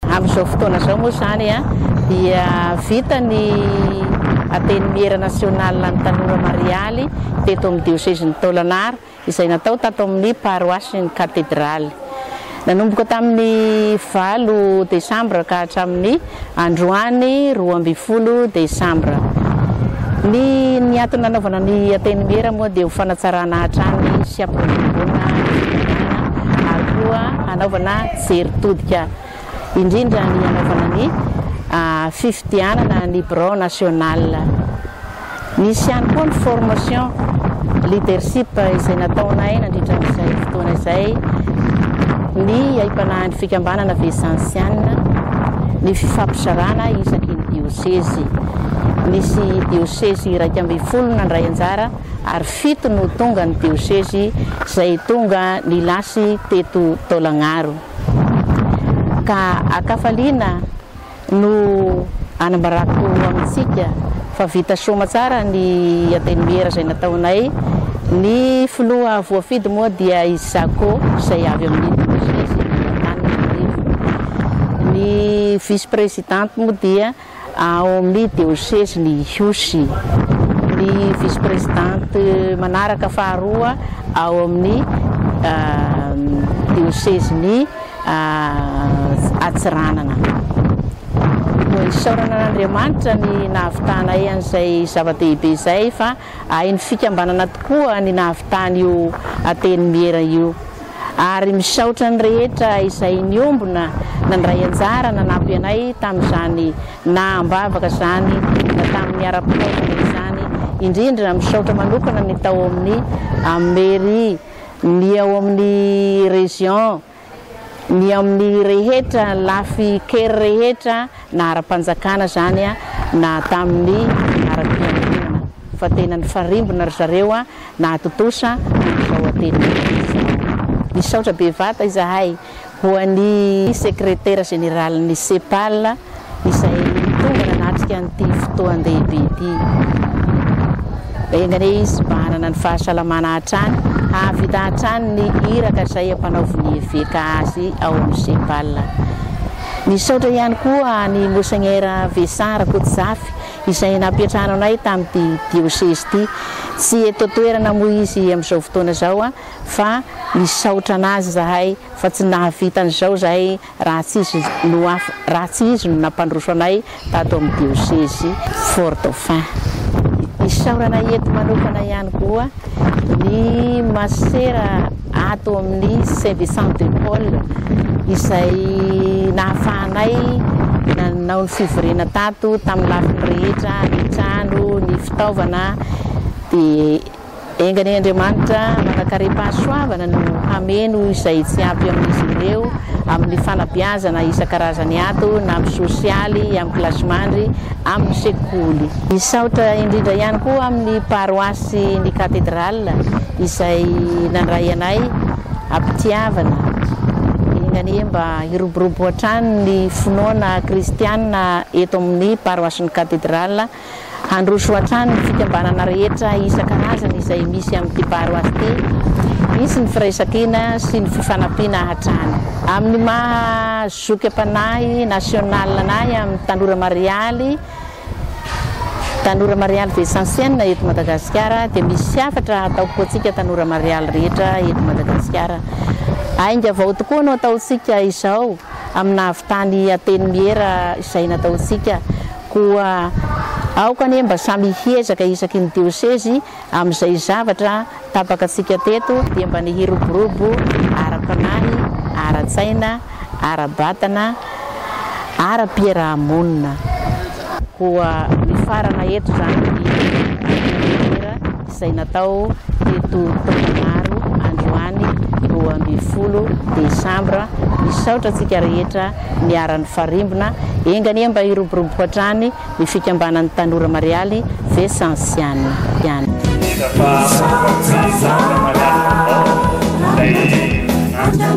Amin'izao fotoana izao moa izany dia vita ny Antenimiera nasionalin'ny tanora marialy teto amin'ny diosezin'i Tôlanara izay natao tato amin'ny paroasin'ny Katedraly. Nanomboka tamin'ny valo desambra ka hatramin'ny androany roa ambin'ny folo desambra. Ny ny antony nanaovana ny Antenimiera moa dia ho fanatsarana hatrany sy hampiroboroboana ny firenena ary koa hanaovana Fijery todika indrindra ny hanaovana ny fifidianana ny birao national. Nisy ihany koa ny formation leadership izay nataonay nandritra an'izay fotoana izay ny haipanahin'ny fikambanana Vicensiana, ny fifampizarana isaky ny diosezy. Nisy diosezy iraika ambin'ny folo nandray anjara. ary fito no tonga ny diosezy izay tonga nilasy teto Taolagnaro. Ka an-kafaliana no anambarako amintsika fa vita soa aman-tsara ny Antenimiera izay nataonay. Ny filoha voafidy moa dia i Zako izay avy amin'ny diosezy Antananarivo. Ny vice-presidente moa dia ao amin'ny diosezin'i Ihosy, ny vice-presidente manaraka faharoa ao amin'ny diosezin'i Antsiranana. Isaorana an'Andriamanitra ny nahavitanay an'izay zava-dehibe izay fa Hain'ny fikambanana tokoa ny nahavitany io Antenimiera io ary misaotra ny rehetra izay niombona nandray anjara nanampy anay tamin'izany naha ambavaka izany na tamin'ny ara-pitaovana izany, indrindra misaotra manokana ny tao amin'ny Mairie, ny ao amin'ny Région, ny amin'ny rehetra lafy kery rehetra na ara-panjakana zany na tamin'ny ara-piangonana fa tena nifarimbona ry zareo nahatontosa an'izao atelierany izao. Misaotra bevata izahay ho an'i Sekretera Jeneralin'ny CEPAL izay tonga nanatrika an'ity fotoan-dehibe ity. Enga anie izy hibahanana ny fahasalamana hatrany, hahavita hatrany ny iraka izay ampanaovin'ny eveka azy ao amin'ny CEPAL. Misaotra ihany koa an'i Monseigneur Vesa Rakotozafy izay nampiantrano anay tamin'ity diosezy ity. Tsy eto an-toerana moa izy amin'izao fotoana izao fa misaotra an'azy izahay fa tsy nahavita an'izao izahay raha tsy izy no raha tsy izy no nampandroso anay tato amin'ny diosezy Fort Dauphin. Isaorana eto manokana ihany koa ny masera ato amin'ny Saint Vincent de Paul izay nahafahanay nanao ny fivoriana tato tamin'ny lafiny rehetra, ny trano, ny fitaovana dia Enga anie Andriamanitra manankarem-pahasoavana no hameno izay tsy ampy amin'izy ireo amin'ny fanabeazana isan-karazany ato na amin'ny sosialy, amin'ny kilasimandry, amin'ny sekoly. Misaotra indrindra ihany koa amin'ny paroasy ny Katedrala izay nandray anay am-pitiavana. Enga anie mba hiroborobo hatrany ny finoana kristiana eto amin'ny paroasin'ny Katedrala. Handroso hatrany ny fikambanana rehetra isan-karazany izay misy amin'ity Baro Art ity. Hisy ny firaisankina sy ny fifanampiana hatrany. Amin'ny maha zoky am-panahy national anay amin'ny tanora marialy, tanora marialy Vietsansiana eto Madagasikara dia misy hafatra ataoko ho antsika tanora marialy rehetra eto Madagasikara. Aingavao tokoa no ataontsika izao. amin'ny nahavitany Antenimiera izay nataontsika. Koa aoka anie mba samy hiezaka isaky ny diosezy amin'izay zavatra tapaka antsika teto dia mba ny hiroborobo ara-panahy, ara-tsaina, ara-batana, ara-piaraha-monina. Koa mifarana eto izany ny Antenimiera. izay natao teto Taolagnaro androany roa ambin'ny folo desambra. Misaotra antsika rehetra niara-nifarimbona. Enga anie mba hiroborobo hatrany ny fikambanan'ny tanora Marialy Vesansiana ihany. Tena fa tsy zaka marialy ô lay an.